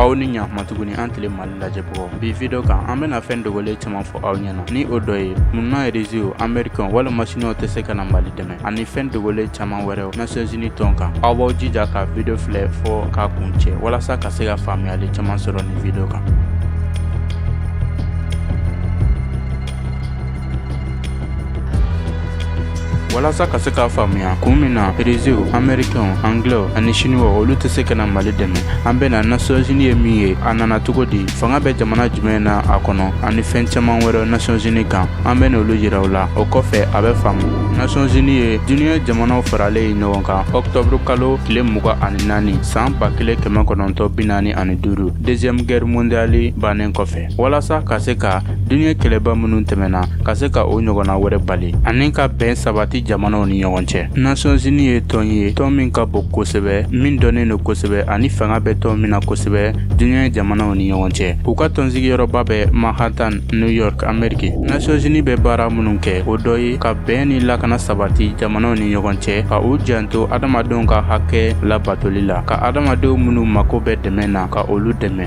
aw ni ɲakuma tuguni an tele mali lajɛbagaw bi video kan an bɛna fɛn dogolen caaman fɔ aw ɲɛna ni o dɔ ye munna irisiw amerikɛnw walima siniwaw tɛ se ka na mali dɛmɛ ani fɛn dogolen caaman wɛrɛw nasiyɔnzini tɔn kan aw b'aw jija ka video filɛ fɔɔ k'a kuncɛ walasa ka se ka faamuyali caaman sɔrɔ nin video kan walasa ka se k'a faamuya kun min na irisiw amerikɛnw anglɛw ani siniwaw olu tɛ se ka na mali dɛmɛ an bɛna nasiyɔnzini ye min ye a nana cogo di fanga bɛ jamana jumɛn na a kɔnɔ ani fɛn caaman wɛrɛ nasiyɔnzini kan an bɛn'olu yira aw la o kɔfɛ a bɛ faamu nasiyɔnzini ye duniɲɛ jamanaw faralen ye ɲɔgɔn kan ɔktɔburu kalo tile mugan ani naani san ba kelen kɛmɛ kɔnɔntɔn bi naani ani duuru deuxième guerre mondiale bannen kɔfɛ walasa ka se ka diɲɛ kɛlɛba minnu tɛmɛna ka se ka o ɲɔgɔnna wɛrɛ bali ani ka bɛn sabati jamanaw ni ɲɔgɔn cɛ nasiyɔnzini ye tɔn ye tɔn min ka bon kosɛbɛ min dɔnnen don kosɛbɛ ani fanga bɛ tɔn min na kosɛbɛ diɲɛ jamanaw ni ɲɔgɔn cɛ u ka tɔnsigiyɔrɔba bɛ manhattan new york ameriki nasiyɔnzini bɛ baara minnu kɛ o dɔ ye ka bɛn ni lakana sabati jamanaw ni ɲɔgɔn cɛ ka u janto adamadenw ka hakɛ labatoli la ka adamadenw minnu mako bɛ dɛmɛ na ka olu dɛmɛ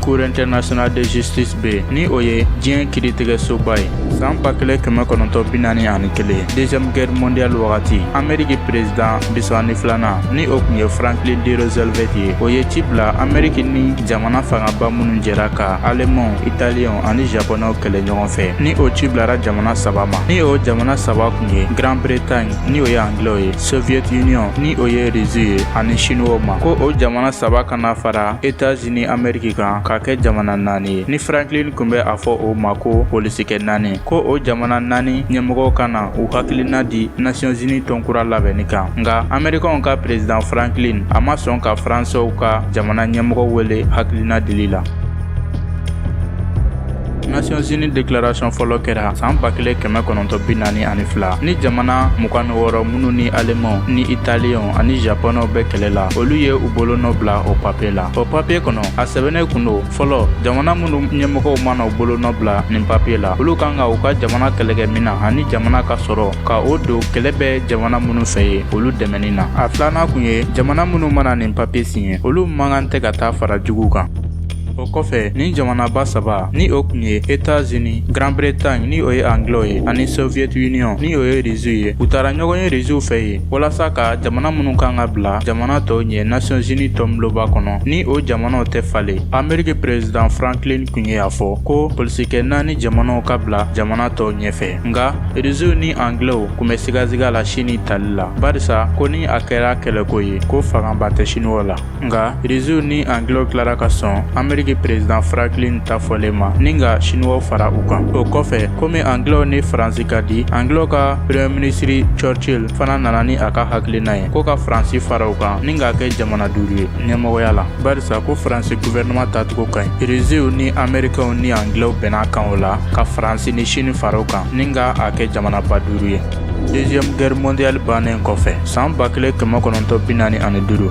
Cour internationale de justice bɛ yen ni o ye diɲɛ kiritigɛsoba ye san ba kelen kɛmɛ kɔnɔntɔn bi naani ani kelen deuxième guerre mondiale wagati ameriki prezidan bi saba ni filanan ni o kun ye franklin d roosevelt ye o ye ci bila ameriki ni jamana fangaba minnu jɛra ka alemanw italiyɛnw ani japonɛw kɛlɛ ɲɔgɔn fɛ ni o ci bilara jamana saba ma ni o jamana saba kun ye grande bretagne ni o ye anglɛw ye soviet union ni o ye risiw ye ani siniwaw ma ko o jamana saba ka na fara etats unis ameriki kan k'a kɛ jamana naani ye ni franklin kun bɛ a fɔ o ma ko polisikɛ naani ko o jamana naani ɲɛmɔgɔw ka na u hakilina di nasiyɔnzini tɔnkura labɛnni kan nka amerikɛnw ka prezidan franklin a ma sɔn ka faransɛw ka jamana ɲɛmɔgɔ wele hakilina dili la Nations-Unies déclaration fɔlɔ kɛra san ba kelen kɛmɛ kɔnɔntɔn bi naani ani fila ni jamana mugan ni wɔɔrɔ minnu ni Alemanw ni Italiyɛnw ani Japonɛw bɛ kɛlɛ la olu ye u bolonɔ bila o papiye la o papiye kɔnɔ a sɛbɛnnen kun don fɔlɔ jamana minnu ɲɛmɔgɔw mana u bolonɔ bila nin papiye la olu kan ka u ka jamana kɛlɛkɛminan ani jamana ka sɔrɔ ka o don kɛlɛ bɛ jamana minnu fɛ yen olu dɛmɛni na a filanan kun ye jamana minnu mana nin papiye siɲɛ olu man kan tɛ ka taa fara juguw kan o kɔfɛ ni jamanaba saba ni o kun ye etazini grande bretagne ni o ye angilɛw ye ani soviet union ni o ye rizuw ye u taara ɲɔgɔn ye rizuw fɛ yen walasa ka jamana minnu kan ka bila jamana tɔw ɲɛ nations unies tɔnbulonba kɔnɔ ni o jamanaw tɛ falen ameriki perezidan franklin kun ye a fɔ ko polisikɛ naani jamanaw ka bila jamana tɔw ɲɛfɛ nka rizuw ni angilɛw kun bɛ sigasiga la sini tali la barisa ko ni a kɛra kɛlɛko ye ko fangaba tɛ siniwaw la nka reziw ni angilɛw tilara ka sɔn ameriki perezidan franklin ta fɔlen ma ni ka siniwaw fara u kan o kɔfɛ komi angilɛw ni faransi ka di angilɛw ka premier ministre churchill fana nana ni a ka hakilina ye ko ka faransi fara u kan ni k'a kɛ jamana duuru ye ɲɛmɔgɔya la barisa ko faransi guvɛrɛnɛman tacogo ka ɲi reziw ni amerikɛnw ni angilɛw bɛnn'a kan o la ka faransi ni sini fara u kan ni ka a kɛ jamanaba duuru ye deuxième guerre mondiale bannen kɔfɛ san ba kelen kɛmɛ kɔnɔntɔn bi naani ani duuru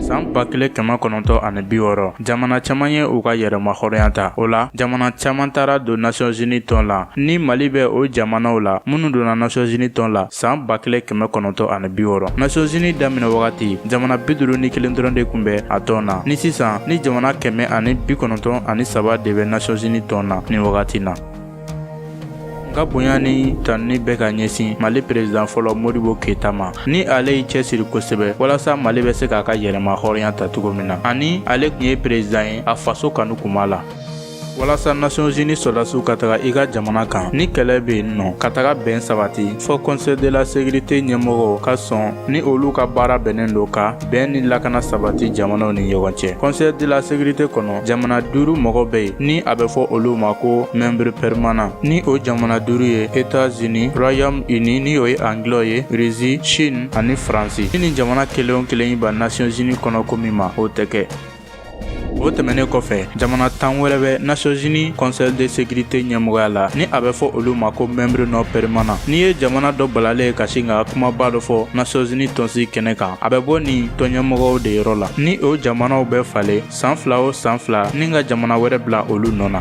san ba kelen kɛmɛ kɔnɔntɔn ani bi wɔɔrɔ jamana caman ye u ka yɛrɛmahɔrɔnya ta o la jamana caman taara don nations unies tɔn la ni mali bɛ o jamanaw la minnu donna nations unies tɔn la san ba kelen kɛmɛ kɔnɔntɔn ani bi wɔɔrɔ nations unies daminɛ wagati jamana bi duuru ni kelen dɔrɔn de kun bɛ a tɔn na ni sisan ni jamana kɛmɛ ani bi kɔnɔntɔn ani saba de bɛ nations unies tɔn na nin wagati na ka bonya ni tanuni bɛ ka ɲɛsin mali perezidan fɔlɔ modibo keyita ma ni ale y'i cɛsiri kosɛbɛ walasa mali bɛ se k'a ka yɛrɛmahɔrɔnya ta cogo min na ani ale kun ye perezidan ye a faso kanu kun b'a la walasa nations unies sɔrɔdasiw ka taga i ka jamana kan ni kɛlɛ bɛ yen n'o ka taga bɛn sabati fɔ conseil de la sécurité ɲɛmɔgɔw ka sɔn ni olu ka baara bɛnnen don ka bɛn ni lakana sabati jamanaw ni ɲɔgɔn cɛ conseil de la sécurité kɔnɔ jamana duuru mɔgɔ bɛ yen ni a bɛ fɔ olu ma ko membre permanent ni o jamana duuru ye etats-unis royaume uni ni o ye angilɛw ye russie chine ani faransi ni nin jamana kelen o kelen y'i ban nations unies kɔnɔ ko min ma o tɛ kɛ o tɛmɛnen kɔfɛ jamana tan wɛrɛ bɛ nations unies conseil de sécurité ɲɛmɔgɔya la ni a bɛ fɔ olu ma ko membre non permanent n'i ye jamana dɔ balalen ye ka sin ka kumaba dɔ fɔ nations unies tɔnsigi kɛnɛ kan a bɛ bɔ nin tɔnɲɛmɔgɔw de yɔrɔ la ni o jamanaw bɛ falen san fila o san fila ni ka jamana wɛrɛ bila olu nɔ na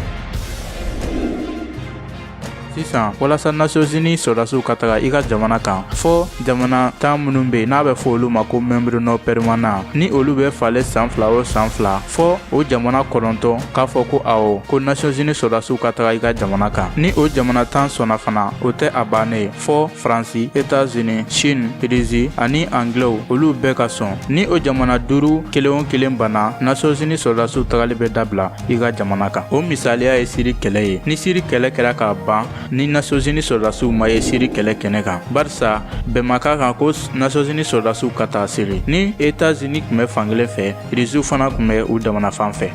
sisan walasa nations unies sɔrɔdasiw ka taga i ka jamana kan fɔ jamana tan minnu bɛ yen n'a bɛ fɔ olu ma ko membre non permanent ni olu bɛ falen san fila o san fila fɔ o jamana kɔnɔntɔn k'a fɔ ko awɔ ko nations unies sɔrɔdasiw ka taga i ka jamana kan ni o jamana tan sɔnna fana o tɛ a bannen ye fɔ faransi etazini chine irizi ani angilɛw olu bɛɛ ka sɔn ni o jamana duuru kelen o kelen banna nations unies sɔrɔdasiw tagali bɛ dabila i ka jamana kan o misaliya ye siri kɛlɛ ye ni siri kɛlɛ kɛra ka ban ni nasozini sɔrɔdasiw ma ye siri kɛlɛ kɛnɛ kan barisa bɛn ma k'a kan ko nasozini sɔrɔdasiw ka taa siri ni etazini tun bɛ fankelen fɛ iriziw fana tun bɛ u damana fan fɛ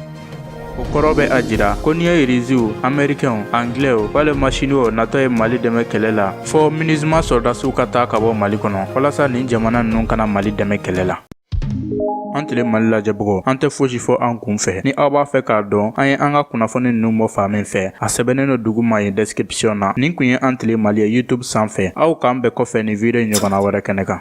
o kɔrɔ bɛ a jira ko n'i ye iriziw amerikɛnw anglɛw walima siniwaw natɔ ye mali dɛmɛ kɛlɛ la fɔɔ minizima sɔrɔdasiw ka taa ka bɔ mali kɔnɔ walasa nin jamana ninnu kana mali dɛmɛ kɛlɛ la an tile mali lajɛbagaw an tɛ fosi fɔ an kun fɛ ni aw b'a fɛ k'a dɔn an ye an ka kunnafoni ninnu bɔ fan min fɛ a sɛbɛnnen don duguma yen description na nin kun ye an tile mali ye youtube sanfɛ aw k'an bɛn kɔfɛ nin video ɲɔgɔnna wɛrɛ kɛnɛ kan